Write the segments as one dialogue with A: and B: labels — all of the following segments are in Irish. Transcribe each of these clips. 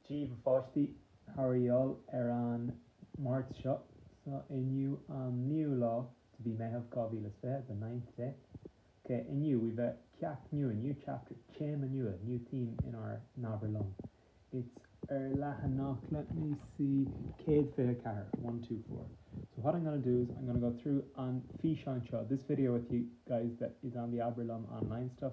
A: Dia daoibh a pháistí, How are you all ar an Máirt seo so inniu an 9ú lá de mhí Meitheamh 2020 the ninth day ok inniu we've ceacht nua new chapter téama nua new theme in our nAbair Liom it's ar leathanach let me see 124 one two four so what I'm gonna do is I'm gonna go through an físeán seo this video with you guys that is on the Abair Liom online stuff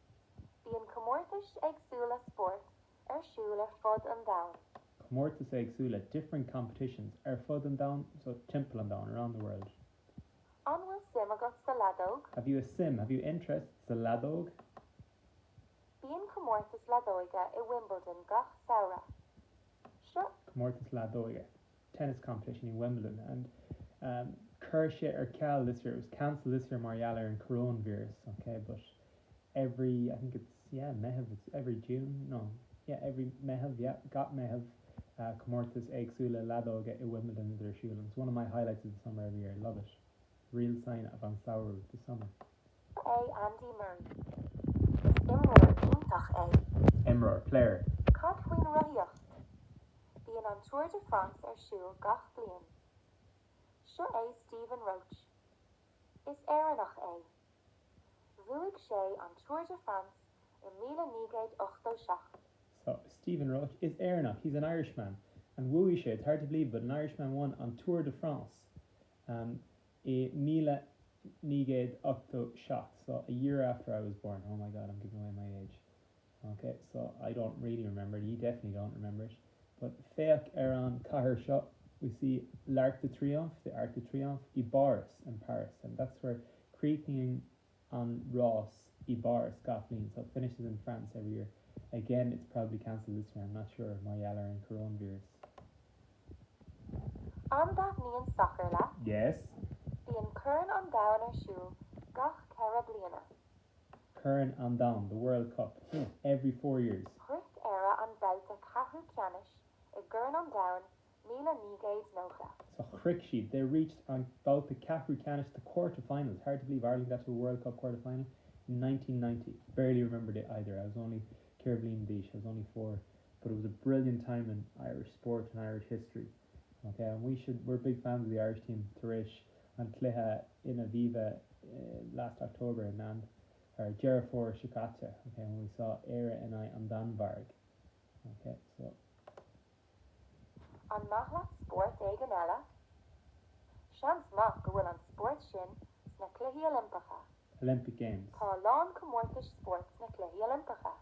B: Bíonn comórtais éagsúla spóirt ar siúl ar fud an domhain. comórtais éagsúla
A: different competitions ar fud an domhain so timpeall an domhain around the world. An
B: bhfuil suim agat sa leadóg? Have you a suim, have
A: you interest, sa
B: leadóg? Bíonn comórtas leadóige i Wimbledon gach samhradh. So, comórtas
A: leadóige tennis competition i Wimbledon and Chuir sé ar ceal this year, it was cancelled this year mar gheall ar an coróinvíreas, ok, but every, I think it's, yeah, Meitheamh, it's every June, no, yeah, every Meitheamh, yeah, gach Meitheamh comórtais éagsúla leadóige i Wimbledon iad ar siúl and it's one of my highlights of the summer every year, love it, real sign of an samhradh, the summer. Seo é
B: Andy Murray. Is imreoir iontach é. Imreoir,
A: player. Cad
B: faoin rothaíocht? Bíonn an Tour de France ar siúl gach bliain. Seo é Stephen Roche. Is Éireannach é. Bhuaigh sé an Tour de France i míle naoi gcéad ochtó seacht.
A: So Stephen Roche. Is Éireannach He's an Irishman. And bhuaigh sé it's hard to believe but an Irishman won an Tour de France. I míle naoi gcéad ochtó seacht, so, a year after I was born, oh my God, I'm giving away my age, ok, so, I don't really remember it, you definitely don't remember it, but féach ar an chathair seo, we see l'Arc de Triomphe, the Arc de Triomphe, i bPáras, in Paris, and that's where chríochnaíonn an rás i bPáras gach bliain so it finishes in France every year. Again, it's probably cancelled this year, I'm not sure mar gheall ar an coróinvíreas.
B: An dtaitníonn sacar leat? Yes.
A: Bíonn
B: Corn an Domhain ar siúl gach ceithre bliana.
A: Corn an Domhain, the World Cup, every four years. Shroich Éire an
B: babhta ceathrú ceannais i gCorn an Domhain míle naoi gcéad nócha. sa chroich
A: siad, they reached an babhta ceathrú ceannais, the quarterfinals, hard to believe Ireland got to a World Cup quarterfinal in nineteen ninety, barely remembered it either, I was only ceithre bliana d'aois, I was only four, but it was a brilliant time in Irish sport and Irish history ok, and we should, we're big fans of the Irish team tar éis an cluiche in Aviva last October i Meán Fomhair, Deireadh Fómhair seo caite, ok, when we saw Éire NI an Danmhairg ok, so.
B: An maith leat spórt éigin eile? Seans maith go bhfuil an spórt sin sna Cluichí Oilimpeacha. Olympic Games.
A: Tá a lán comórtas
B: spóirt sna Cluichí Oilimpeacha.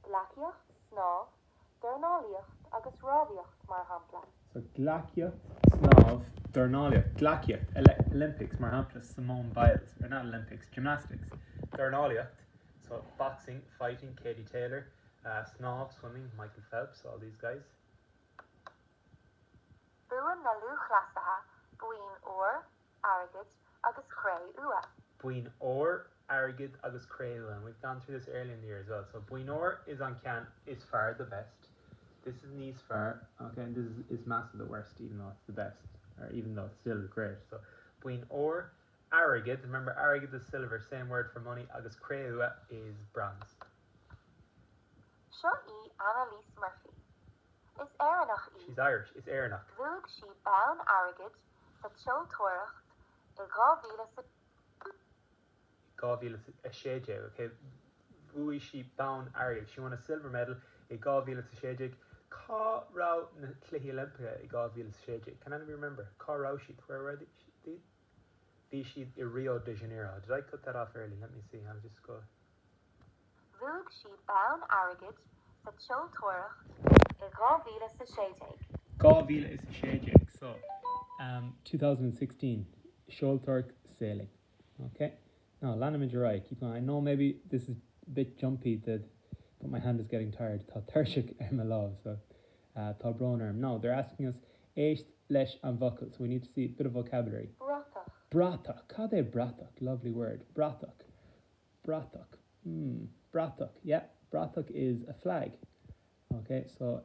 B: Gleacaíocht, snámh, dornálaíocht agus rámhaíocht, mar shampla. So,
A: gleacaíocht, snámh, dornálaíocht, gleacaíocht, Olympics, mar shampla, Simone Biles, or not Olympics, gymnastics, dornálaíocht, so, boxing, fighting, Katie Taylor, snámh, swimming, Michael Phelps, all these guys.
B: Buann na lúthchleasaithe boinn óir, airgid agus cré-umha. boinn óir,
A: airgid agus cré-umha and we've gone through this earlier in the year as well. So boinn óir is an ceann is fearr the best This is níos fearr okay and this is is measa the worst even though it's the best or even though it's still great. So boinn óir, airgid, remember airgead is silver, same word for money, agus cré-umha is bronze.
B: Seo í Annalise Murphy. Is Éireannach í. She's Irish.
A: Is Éireannach. Bhuaigh sí
B: bonn airgid sa tseoltóireacht i
A: 2016, ok? Bhuaigh sí bonn airgid. She won a silver medal i dhá mhíle sa sé déag. Cá raibh na Cluichí Oilimpeacha i dhá mhíle sa sé déag? Can anybody remember? Cá raibh siad? Where were they? Bhí siad i Rio de Janeiro. Did I cut that off early? Let me see. I'll just go.
B: Bhuaigh
A: sí bonn airgid sa tseoltóireacht i 2016. 2016 so. Um 2016 seoltóireacht sailing. Ok now leanfaimid ar aghaidh keep going I know maybe this is a bit jumpy but my hand is getting tired tá tuirseach ar mo lámh so uh tá brón orm now they're asking us éist leis an bhfocal so we need to see a bit of vocabulary bratach
B: bratach cad é
A: bratach lovely word bratach bratach, mm, bratach, yep, bratach is a flag. Ok, so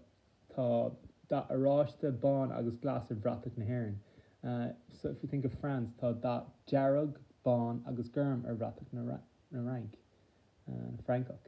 A: tá dath oráiste, bán agus glas ar bhratach na hÉireann. So if you think of France, tá dath dearg, bán agus gorm ar bhratach na Fhrainc, na Francach.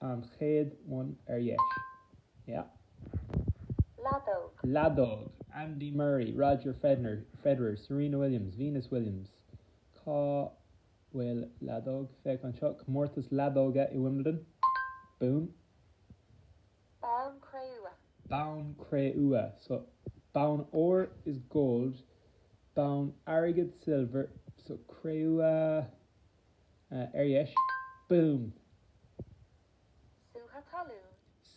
A: An chéad one ar dheis.
B: Yeah. Leadóg.
A: Leadóg, Andy Murray, Roger Federer, Serena Williams, Venus Williams, Cá bhfuil leadóg? Féach anseo, Comórtas leadóige i Wimbledon. Boom.
B: Bonn cré-umha.
A: Bonn cré-umha. So, bonn óir is gold, bonn airgid silver, so cré-umha. ar dheis, Boom! Sútha talún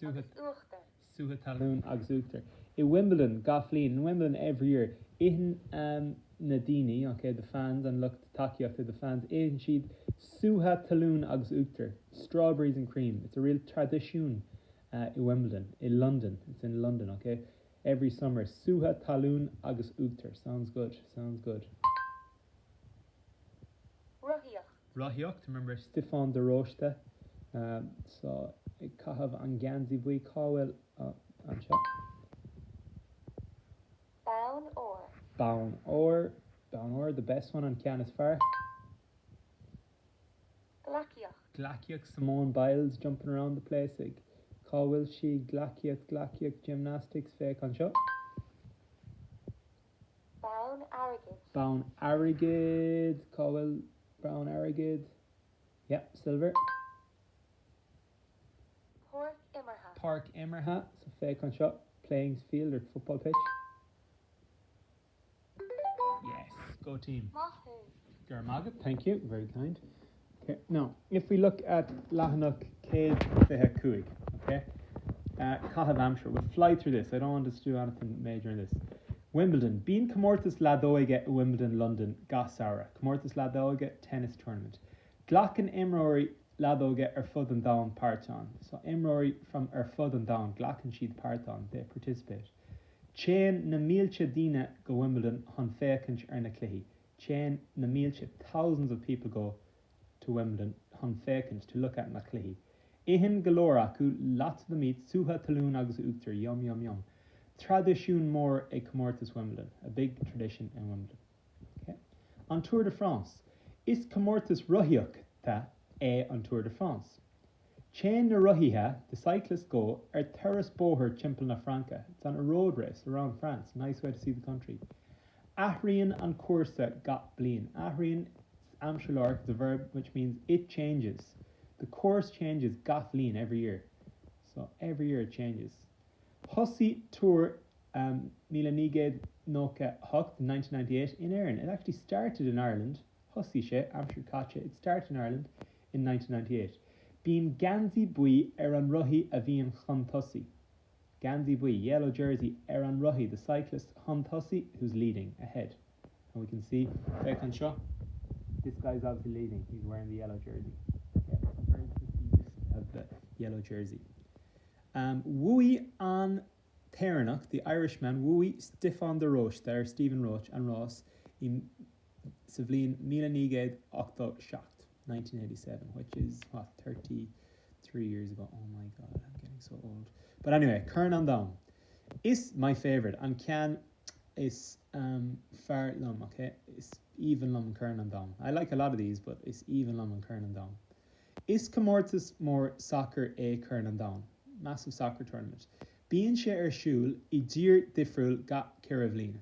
A: agus uachtar. Sútha talún agus uachtar. I Wimbledon, gach bhliain, In Wimbledon, every year, Itheann na daoine, ok, the fans, an lucht tacaíochta, the fans, itheann siad sútha talún agus uachtar, strawberries and cream, It's a real traidisiún i Wimbledon. I London, It's in London, ok, every summer, Sútha talún agus uachtar, sounds good, sounds good. Rothaíocht. Rothaíocht, Remember Stiofán de Róiste so ag caitheamh an geansaí buí cá bhfuil anseo? Bonn óir. Bonn óir, Bonn óir, the best one, an ceann is fearr. Gleacaíocht. Gleacaíocht, Simone Biles jumping around the place ag cá bhfuil sí? Gleacaíocht, Gleacaíocht, gymnastics, féach anseo. Bonn airgid. Bonn airgid! Cá bhfuil bonn airgid? Yep, silver. Páirc imeartha. Páirc imeartha. So féach anseo, playing field or football pitch. Yes! Go team! Maith thú! Go raibh maith agat. Thank you, very kind. Now, if we look at leathanach 125, okay, uh, caitheamh aimsire, we'll fly through this, I don't want us to do anything major in this. Wimbledon, bíonn comórtas leadóige i Wimbledon London gach samhradh, comórtas leadóige, tennis tournament. Glacann imreoirí leadóige ar fud an domhain páirt ann, so imreoirí from ar fud an domhain, glacann siad páirt ann, they participate. Téann na mílte daoine go Wimbledon chun féachaint ar na cluichí, Téann na mílte, thousands of people go, to Wimbledon chun féachaint, to look at na cluichí. Itheann go leor acu, lots of them eat sútha talún agus uachtar, yum, yum, yum. Traidisiún mór ag Comórtas Wimbledon, a big tradition in Wimbledon. Ok? An Tour de France. Is comórtas rothaíochta é an Tour de France. Téann na rothaithe, the cyclists go, ar turas bóthair timpeall na Fraince, it's on a road race around France, nice way to see the country. Athraíonn an cúrsa gach bliain. Athraíonn, is aimsir láithreach, it's a verb which means it changes. The course changes gach bhliain, every year. So, every year it changes. Thosaigh Tour míle naoi gcéad nócha hocht, in nineteen ninety eight, in Éirinn, it actually started in Ireland, Thosaigh sé, aimsir chaite, it started in Ireland, in nineteen ninety-eight bíonn geansaí buí ar an rothaí a bhíonn chun tosaigh geansaí buí yellow jersey ar an rothaí the cyclist chun tosaigh who's leading, ahead and we can see féach anseo this guy is obviously leading he's wearing the yellow jersey okay very prestigious the yellow jersey um bhuaigh an tÉireannach, the Irishman bhuaigh Stiofán de Róiste or Stephen Roche an rás i sa bhliain míle naoi gcéad ochtó seacht, nineteen eighty seven, which is thirty three years ago, oh my God, I'm getting so old, but anyway, Corn an Domhain is my favourite, an ceann is fearr liom, ok, is aoibhinn liom Corn an Domhain, I like a lot of these, but is aoibhinn liom an Corn an Domhain. Is comórtas mór sacair é Corn an Domhain, massive soccer tournament. Bíonn sé ar siúl i dtír difriúil gach ceithre bhliana.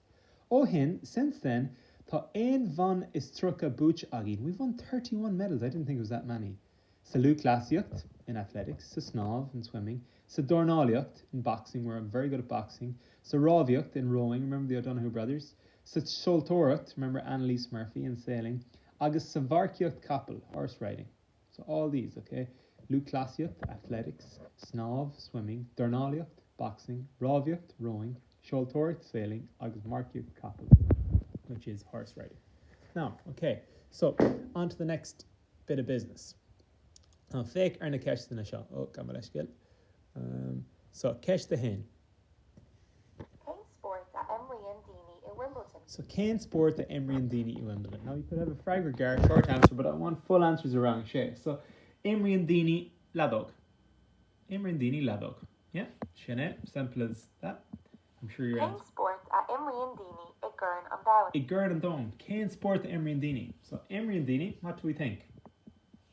A: Ó shin, since then, tá aon bhonn is tríocha buaite againn, we've won thirty one medals, I didn't think it was that many, sa lúthchleasaíocht, in athletics, sa snámh, in swimming, sa dornálaíocht, in boxing, we're very good at boxing, sa rámhaíocht, in rowing, remember the O'Donoghue brothers, sa seoltóireacht, remember Annalise Murphy, in sailing, agus sa mharcaíocht capall, horse riding. So all these, ok? Lúthchleasaíocht, athletics, snámh, swimming, dornálaíocht, boxing, rámhaíocht, rowing, seoltóireacht, sailing, agus marcaíocht capall, which is horse riding. Now, ok, so, on to the next bit of business. Now, féach ar na ceisteanna seo. Oh, gabh mo leithscéal. So, ceist a haon.
B: Cén spórt a imríonn daoine i Wimbledon? So cén
A: spórt a imríonn daoine i Wimbledon? Now you could have a freagra gearr, short answer, but I want full answers rang a sé. So imríonn daoine leadóg. Imríonn daoine leadóg. Yeah? Sin é. Simple as that. I'm sure you're Cén spórt
B: a imríonn daoine i gCorn an Domhain? I gCorn an Domhain,
A: cén spórt a imríonn daoine? So imríonn daoine, what do we think?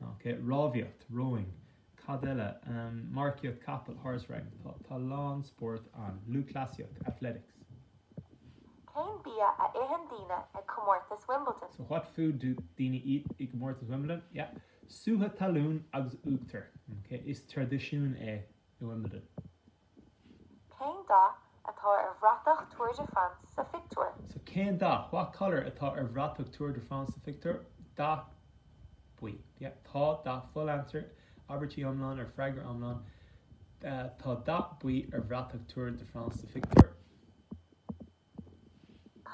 A: OK, rámhaíocht, rowing. Cad eile? Ahm, marcaíocht capaill, horse riding. Tá, tá a lán spóirt ann. Lúthchleasaíocht, athletics. Cén
B: bia a itheann daoine ag comórtas Wimbledon? So what
A: food do daoine eat i gcomórtas Wimbledon? Yeah. Sútha talún agus uachtar. OK, is traidisiún é i Wimbledon.
B: Cén dath atá ar bhratach Tour de France sa phictiúr? So, cén dath?
A: What colour atá ar bhratach Tour de France sa phictiúr? Dath buí. Yeah, tá, dath Full answer, abairtí iomlán or freagra iomlán Tá dath buí ar bhratach Tour de France sa phictiúr.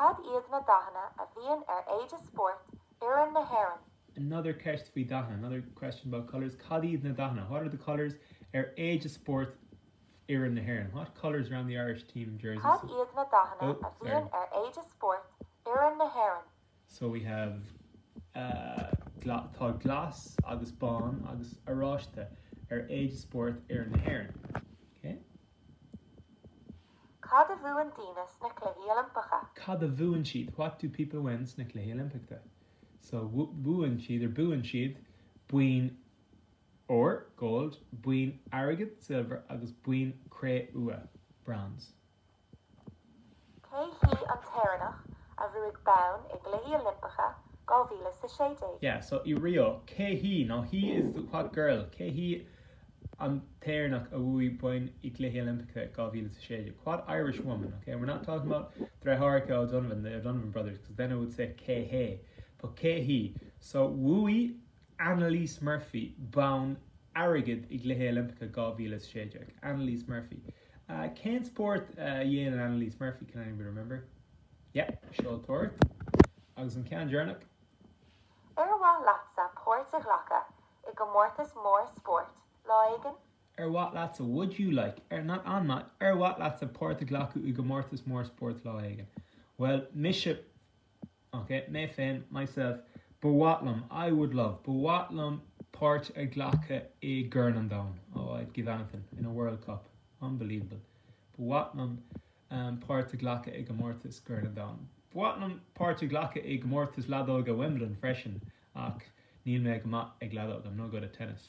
B: Cad iad na dathanna a bhíonn ar éide spóirt fhoireann na hÉireann? Another ceist
A: faoi dhathanna. Another question about colours, Cad iad na dathanna? What are the colours? ar éide spóirt fhoireann na hÉireann? What colours are on the Irish team jerseys? Cad iad na dathanna
B: a bhíonn ar éide spóirt fhoireann na hÉireann? So we
A: have tá glas agus bán agus oráiste ar éide spóirt fhoireann na hÉireann. OK? Cad a bhuann daoine sna Cluichí
B: Oilimpeacha? Cad a bhuann siad?
A: What do people win sna Cluichí Oilimpeachta? So bhuann siad or buann siad boinn óir, gold, boinn airgid, silver, agus boinn cré-umha, bronze.
B: Cé hí an tÉireannach a bhuaigh bonn i gCluichí
A: Oilimpeacha 2016? Yeah, so i Rio, cé hí, now hí is the what girl? Cé hí an tÉireannach a bhuaigh bonn i gCluichí Oilimpeacha 2016? What Irish woman? Okay, we're not talking about deartháireacha O'Donovan, the O'Donovan brothers, because then I would say cé hé, but cé hí? So bhuaigh. Annalise Murphy, bonn airgid i gCluichí Oilimpeacha 2016. Annalise Murphy. Cén spórt a dhéanann Annalise Murphy? Can anybody remember? Yep, seoltóireacht. Agus an ceann deireanach?
B: Ar mhaith leatsa
A: páirt a ghlacadh i gcomórtas mór spóirt lá éigin? Ar mhaith leatsa? Would you like? Ar, not an maith, Ar mhaith leatsa páirt a ghlacadh i gcomórtas mór spóirt lá éigin? Bhuel, mise. OK, mé féin, myself, Ba mhaith liom, I would love, Ba mhaith liom páirt a ghlacadh i gCorn an Domhain, Oh, I'd give anything, in a World Cup, Unbelievable, Ba mhaith liom páirt a ghlacadh i gcomórtas gCorn an Domhain. Ba mhaith liom páirt a ghlacadh i gcomórtas leadóige Wimbledon freisin ach níl mé go maith ag leadóg, I'm no good at tennis.